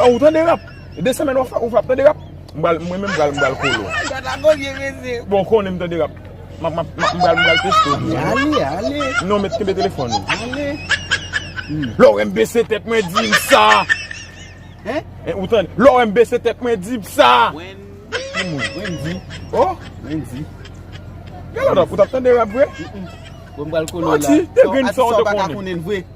Ou tande rap? De semèn wap fè ou pap tande rap? Mwen menm m pral m pral kolo. Bon ou konnen m tande rap. Map map m pral m pral teste w tou tande. Non met kenbe telefòn ou. Lè w wè m bese tèt mwen di m sa. Ou tande? Lè w wè m bese tèt mwen di m sa. Wendy. Oh Wendy. Gade la ou tap tande rap vre? Mwen pral kolo la. Manti. Dègrenn sa ou te konnen.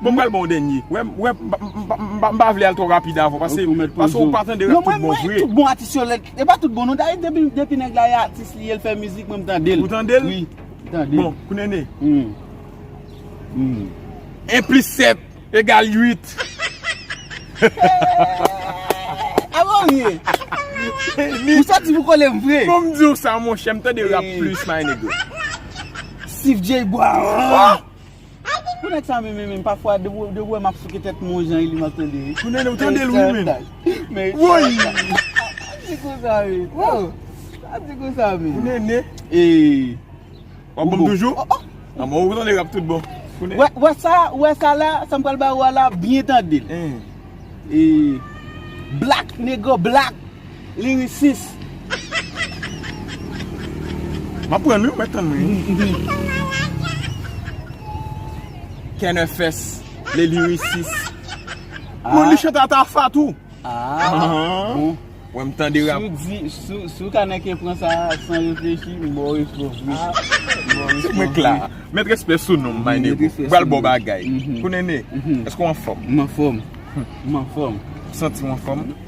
Bon m pral baw dènye. Wè m wè m pa vle al twò rapid avèw pase pase ou pa tande rap tout bon vre. Tout bon atis yo lèd. E pa tout bon non Dayou depi nèg la e atis li e l fè mizik mwen m tande l. Ou tande l? Wi. Tande. Bon Kunene. Humm. 1 plis 7 egal 8. A bon w ye? Ou santi pou kole m vre? Fò m di w sa monchè m tande rap plis my nigga. Sifjey bwa. Pou nèg sa menm menm pafwa depi ou wèm ap souke tèt mwen yon jan Elie map tande wi. Pou nènè ou tandel wi menm. Woyy. Ap di konsa wi. Ap di konsa menm. Pou nènè. Wap banm toujou. A mò ou tande rap tout bon. Wè sa ou wè sa la sam pral ba ou a la byen tandel. Black nego black. Li ri sis. Map pran li ou met tann mwen. Kenner fès le li ri sis. Moun li chante a ta fa tou. Bon. Wè m tande rap. Sou kanè ke pran sa san reflechi m baw respè w vre. Se mwen k la. Met respè sou nom my nego. M pral baw bagay. Kou nene. Eske w anfòm? M anfòm. M anfòm. Ou santi w anfòm?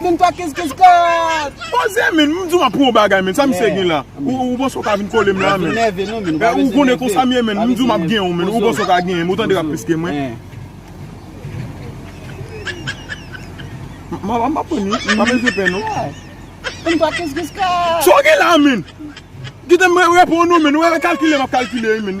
Min twa kiss kiss God. Poze min, m di w aprann yon bagay min, sa misye gen la, ou panse w ka vin kole m la min? Ou konnen konsa m ye min, m di w m ap genyen w min, ou panse w ka genyen m, ou tande rap plis ke mwen? M ap aprann wi, pa beze pè non. Min twa kiss kiss God. Sa w gen la min? Kite m reponn ou min, ou wè kalkile m ap kalkile wi min.